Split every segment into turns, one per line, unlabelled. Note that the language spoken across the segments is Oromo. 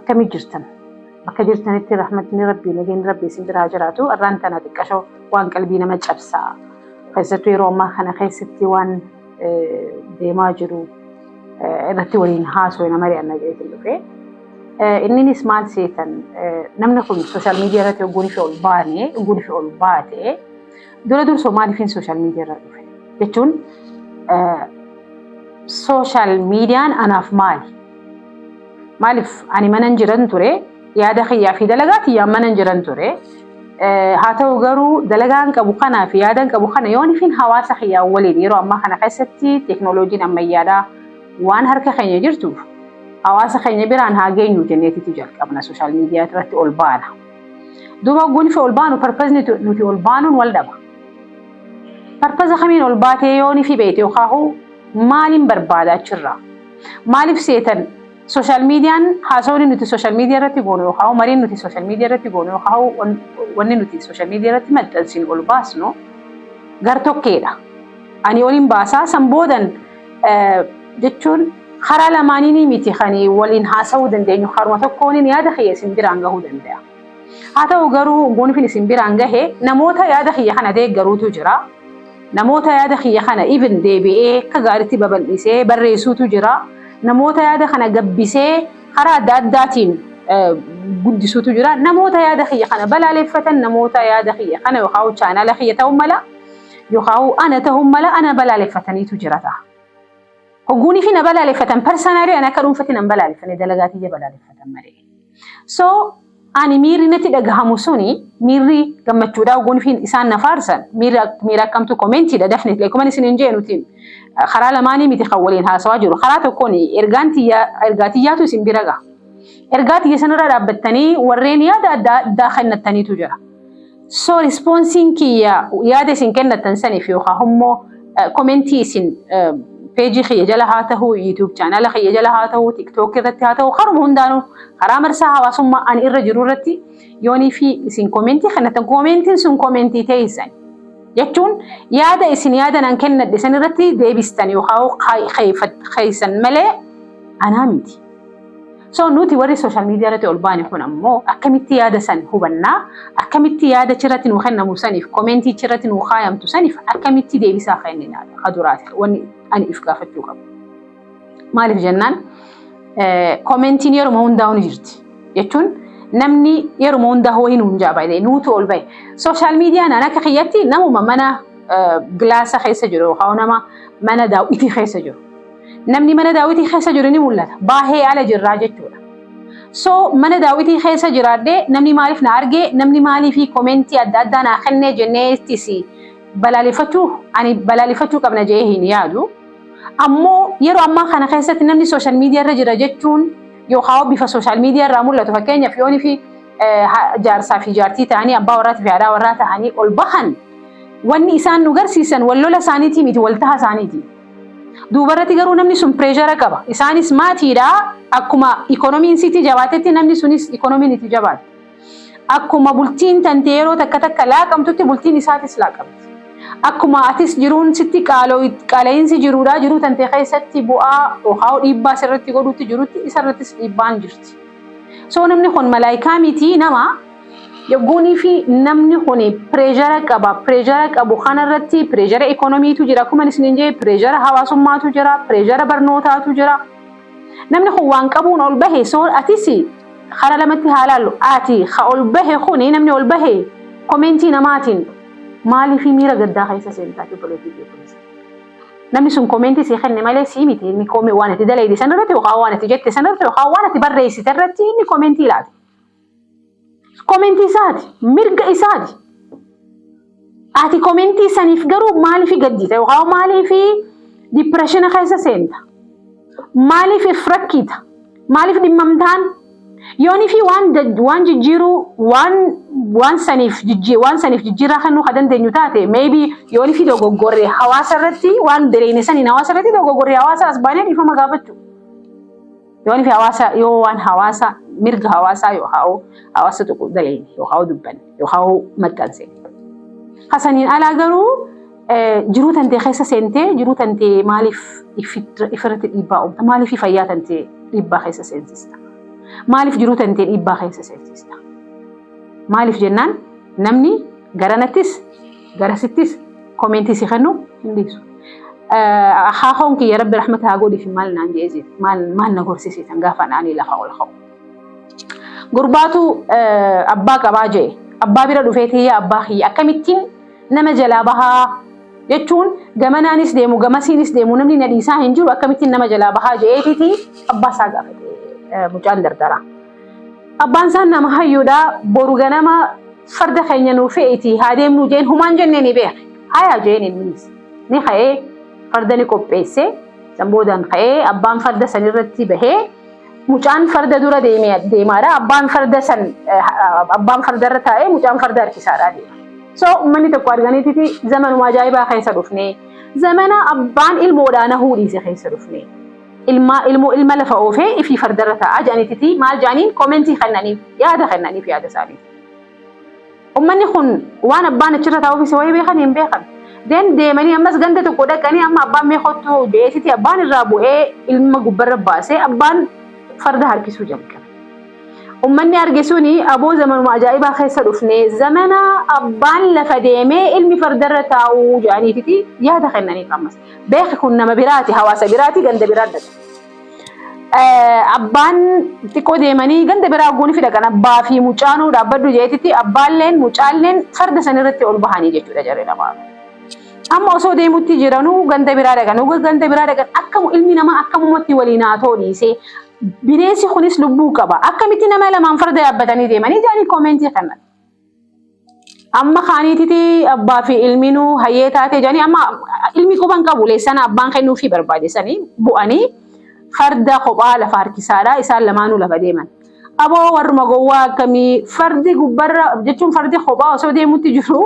Akkami jirtan? Bakka jirtanitti rahmatni Rabbii nageenyi Rabbii isin biraa jiraatu arraan tana xiqqashoo waan qalbii nama cabsaa keessattuu yeroo ammaa kana keessatti waan deemaa jiru irratti waliin haasoo nama ri'anna jedheetiin dhufe. Inninis maal seetan namni kun sooshaal miidiyaa irratti ogguun ishee ol baane ogguun ishee ol baate Dura dursoo maaliifin sooshaal miidiyaa irra dhufe jechuun sooshaal miidiyaan anaaf maali? Maaliif ani manan jiran ture yaada kiyyaa fi dalagaa tiyyaan manan jiran ture. Haa ta'u garuu dalagaan qabu kanaa fi yaadan qabu kana yoonifin hawaasa kiyyaa waliin yeroo ammaa kana keessatti teeknooloojiin ammayyaadhaa waan harka keenya jirtuuf hawaasa keenya biraan haa geenyu jenneetitu jalqabna sooshaal miidiyaa irratti ol baana. Duuba hogguun fi ol baanu parpazni nuti ol baanuun wal dhaba. Parpaza kamiin ol baatee yoon fi beeyte yookaahuu maaliin barbaada achirraa. Maaliif seetan sooshaal miidiyaan haasawni nuti sooshaal miidiyaa irratti goonu yookaahuu mariin nuti sooshaal miidiyaa irratti goonu yookaahuu wanni nuti sooshaal miidiyaa irratti maxxansinu ol baasnu gartokkeedha. Ani oliin baasaa san boodan jechuun karaa lamaaniinii miti kan waliin haasa'uu dandeenyu karuma tokkooniin yaada kiyya isin biraan gahuu danda'a. Haa ta'u garuu gonfin isin biraan gahe namoota yaada kiyya kana deeggaruutu jira. Namoota yaada kiyya kana even deebi'ee akka gaariitti babal'isee barreessuutu jira. Namoota yaada kana gabbisee karaa adda addaatiin guddisuutu jira. Namoota yaada kiyya kana balaaleffatan namoota yaada kiyya kana yookaan chaanaala kiyya ta'uu mala. Yookaan ana ta'uun mala ana balaaleffataniitu jira ta'a. Hogguunii fi na balaaleffatan parsanaalii ani akka dhuunfatti nan balaaleffane dalagaa kiyya balaaleffatan malee. So ani miirri natti dhagahamu suni miirri gammachuudha hogguun fi isaan na faarsan miirri ak- miira akkamtu koomentiidha dafne leekuman isin hin jeenutiin karaa lamaanii miti kan waliin haasawaa jiru karaa tokkoon ergaan tiyyaa ergaa tiyyaatu isin bira gaha. Ergaa tiyya sanarra dhaabbattanii warreen yaada adda addaa kennattaniitu jira. So responsiin kiyya yaada isin kennatan saniif yookaan immoo komentii isin peejii kiyya jala haa ta'u, YouTube chaanala kiyya jala haa ta'u, TikTok irratti haa ta'u, karuma hundaanuu karaa marsaa hawaasummaa ani irra jiru irratti yoonii fi isin komentii kennatan komentiin sun komentii teessan. Jechuun yaada isin yaada nan kennadhe san irratti deebistan yookaan keessan malee anaa miti. So nuti warri social media irratti ol baane kun ammoo akkamitti yaada san hubannaa akkamitti yaada achirratti nuu kennamu saniif komentii achirratti nuu kaayamtu saniif akkamitti deebisaa kennina ka duraati wanni ani if gaafachuu qabu. Maaliif jennaan komentiin yeruma hundaa'u ni jirti jechuun namni yeruma hundaa ho'i nuun jaabalee nuutu ol ba'e. Social media naan akka kiyyatti namuma mana gilaasa keessa jiru yookaan nama mana daawwitii keessa jiru. Namni mana daawwitii keessa jiru ni mul'ata. Baahee ala jirraa jechuudha. So mana daawwitii keessa jiraadhee namni maaliif na argee namni maaliif komeentii adda addaa naa kennee jenneettis balaaleffachuu ani balaaleffachuu qabna jedhee hin yaadu. Ammoo yeroo ammaa kana keessatti namni sooshaal miidiyaa irra jira jechuun yookaan bifa sooshaal miidiyaa irraa mul'atu fakkeenyaaf yoonii fi jaarsaa fi jaartii ta'anii abbaa warraatii fi haadhaa warraa ta'anii ol bahan wanni isaan nu garsiisan wal lola isaaniitii miti wal taha isaaniiti. Duubarratti garuu namni sun pireeshara qaba. Isaanis maatiidha. Akkuma ikoonomiin sitti jabaatetti namni sunis ikoonomiin itti jabaata. Akkuma bultiin tante yeroo takka takka laaqamtutti bultiin isaatis laaqamti. Akkuma atis jiruun sitti qaala'iinsi jiruudha. Jiruu tante keessatti bu'aa yookaan dhiibbaa sirratti godhutti jirutti isarrattis dhiibbaan jirti. So namni kun malaayikaa miti nama. Yogguunii fi namni kun pireeshara qaba. Pireeshara qabu kana irratti pireeshara ikoonomiitu jira. Akkuma isiniin jee pireeshara hawaasummaatu jira. Pireeshara barnootaatu jira. Namni kun waan qabuun ol bahe soo atis hara lamatti haa laallu. Ati ha ol bahe kun namni ol bahe komeentii namaatiin maalii fi miira gaddaa keessa seentaa obboleettii kee kunis. Namni sun komeentii sii kenne malee sii miti inni koomee waan ati dalayde san irratti yookaan waan ati jette san irratti yookaan waan ati barreessite irratti inni komeentii laate. Komentii isaati. Mirga isaati. Ati komentii saniif garuu maaliif gaddita yookaan maaliif dipireeshina keessa seenta? Maaliif if rakkiita? Maaliif dhimmamtaan? Yoonii fi waan dad- waan jijjiiruu waan waan saniif jijji- waan saniif jijjiirraa kennuu kan dandeenyu taate maybe yoonii fi dogoggorre hawaasa irratti waan bereene saniin hawaasa irratti dogoggorre hawaasa as baanee dhiifama gaafachuu. Yoon fi hawaasa yoo waan hawaasa mirga hawaasaa yoo haa'u hawaasa tuqu daleeyne yoo haa'u dubbanne yoo haa'u maxxanse. Hasaniin alaa garuu jiruu tantee keessa seentee jiruu tantee maaliif ifirratti dhiibbaa uumta maaliif fayyaa tantee dhiibbaa keessa seensista maaliif jiruu tantee dhiibbaa keessa seensista maaliif jennaan namni garanattis Garasittis komentii si kennu hin dhiisu. Haahoon kiyya rabbi rahmata haa godhiif maal naan jedhee jira. Maal maal na gorsisiisan gaafa naanii lafa ol ka'u. Gurbaatu abbaa qabaa jee abbaa bira dhufee tiyya abbaa kiyya akkamittiin nama jalaa bahaa jechuun gamanaanis deemu gamasiinis deemu namni na dhiisaa hin jiru akkamittiin nama jalaa bahaa jeetii abbaa isaa gaafate mucaan dardaraa. Abbaan isaan nama hayyuudha boru ganama farda keenya nuu fe'iti haa deemnuu jeen humaan jennee ni beeka. Hayaa jeen innis ni ka'ee farda ni qopheesse. San boodaan ka'ee abbaan farda san irratti bahee mucaan farda dura deemaadha. Abbaan farda san abbaan farda irra taa'ee mucaan farda harkisaadha deema. So uummanni tokko arganiititi zamanuma ajaa'ibaa keessa dhufnee zamana abbaan ilmoodhaa nahuu dhiise keessa dhufnee. ilmaa ilmoo ilma lafa oofee ifii fardarra taa'aa jedhanititii maal jedhaniin koomentii kennaniif yaada kennaniif yaada isaanii. Ummanni kun waan abbaan achirra taa'uufis wayii beekan hin beekan. Den deemanii ammas ganda tokko dhaqanii amma abbaan mee kottu je'eetiti abbaan irraa bu'ee ilma gubbarra baasee abbaan farda harkisuu jalqabe. Ummanni arge suni aboo zamanuma ajaa'ibaa keessa dhufne zamana abbaan lafa deemee ilmi fardarra taa'uu jedhaniititi yaada kennaniif ammas. Beeki kun nama biraati, hawaasa biraati, ganda biraa dhaqa. Abbaan xiqqoo deemanii ganda biraa guunii fi dhaqan abbaa fi mucaanuu dhaabbadhu jeetitti abbaalleen mucaalleen farda san irratti ol bahanii jechuudha jarri lamaan. Amma osoo deemutti jiranuu ganda biraa dhaqan uga ganda biraa dhaqan akkamu ilmi namaa akkamumatti waliin haa ta'u dhiisee bineensi kunis lubbuu qaba akkamitti nama lamaan farda yaabbatanii deemanii jaanii koomentii kanatti. amma kaaniititi abbaa fi ilminuu hayyee taatee jedhanii amma ilmi quban qabu leessana abbaan kennuufii barbaadesanii bu'anii farda kophaa lafa harkisaadha isaan lamaanuu lafa deeman. Aboo warruma gowwaa akkamii fardi gubbarra jechuun fardi kophaa osoo deemutti jiru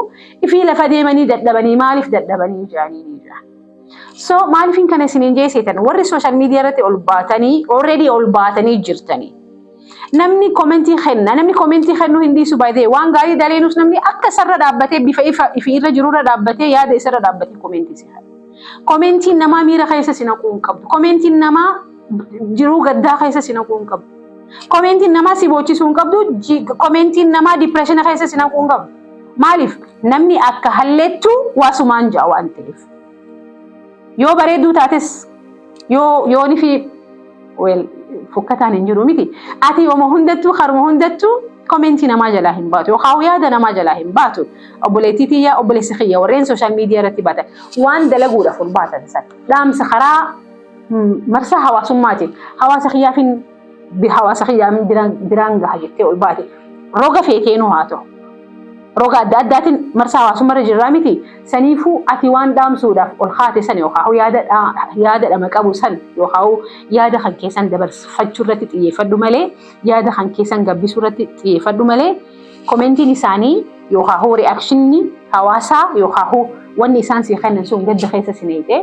ifii lafa deemanii dadhabanii maaliif dadhabanii jedhanii ni jira. So maaliifin kana isiniin jeeseetan warri sooshaal miidiyaa irratti ol baatanii already ol baatanii jirtanii. Namni komentii kenna, namni komentii kennuu hin dhiisu baay'ee waan gaarii daleenus namni akka isarra dhaabbatee bifa ifa ifi irra jirurra dhaabbatee yaada isarra dhaabbatee komentii si kenna. Komentiin namaa miira keessa si naquu hin qabdu. Komentiin namaa jiruu gaddaa keessa si naquu hin qabdu. Komentiin namaa si boochisuu hin qabdu. Ji- Komentiin namaa dipireeshina keessa si naquu hin qabdu. Maaliif namni akka halleettu waasumaan ja'a waan ta'eef. Yoo bareedduu taates yoo yooni fi weel fokkataan hin jiru miti. Ati yooma hundattuu karuma hundattuu komentii namaa jalaa hin baatu yookaan yaada namaa jalaa hin baatu. Obboleettii tiyya obboleessi kiyya warreen sooshaal miidiyaa irratti baatan waan dalaguudhaaf ol baatan san dhaamsa karaa marsaa hawaasummaatiin hawaasa kiyyaaf hin hawaasa kiyyaa biraan gaha jettee ol baate roga feeteenuu haa ta'u. Roga adda addaatiin marsaa hawaasummaa irra jirraa miti. Saniifuu ati waan dhaamsuudhaaf ol kaate san yookaan yaada dhama qabu san yookaan yaada kan keessan dabarfachuu irratti xiyyeeffadhu malee yaada kan keessan gabbisuu irratti xiyyeeffadhu malee komentiin isaanii yookaan hoo ri'aakshinni hawaasaa yookaan hoo wanni isaan sii kennan sun gadda keessa si neexee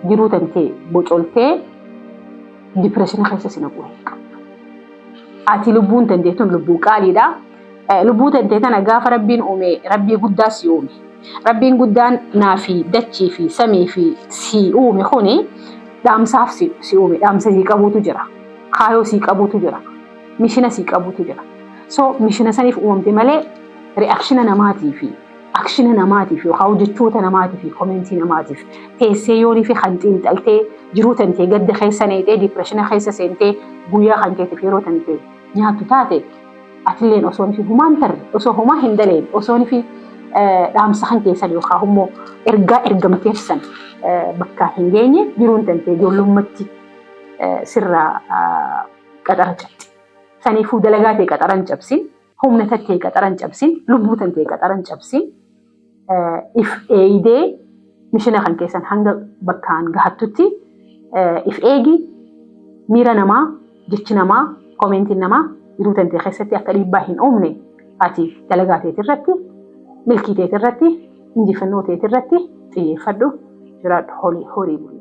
jiruu tantee bocoltee dipireeshina keessa si naquu hin qabu. Ati lubbuun tantee tun lubbuu qaaliidha. Lubbuu tantee tana gaafa rabbiin uume rabbii guddaa si uume. Rabbiin guddaan naa fi dachii fi samii fi si uume kuni dhaamsaaf si uume. Dhaamsa sii qabuutu jira. Kaayoo sii qabuutu jira. Mishina sii qabuutu jira. So mishina saniif uumamte malee re'akshina namaatii fi akshina namaatiif yookaan hojjechoota namaatii fi komentii namaatiif teessee yoonii fi kan xiinxaltee jiruu tantee gadda keessa neexee diipireshina keessa seentee guyyaa kan keetiif yeroo tantee nyaattu taate atilleen osoo fi humaan tarre osoo homaa hin daleen osoo fi dhaamsa kan keessan yookaan immoo ergaa ergamteef san bakka hin geenye jiruun tantee ijoollummatti sirraa qaxara cabse. Saniifuu dalagaa ta'e qaxara hin cabsin. humna tattee qaxaran cabsin lubbuu tantee qaxaran cabsin if eeydee mishina kan keessan hanga bakkaan gahattutti if eegi miira namaa jechi namaa koomeentiin namaa jiruu tantee keessatti akka dhiibbaa hin uumne ati dalagaa teet irratti milkii teet irratti injifannoo teet irratti xiyyeeffadhu jiraadhu horii bulii.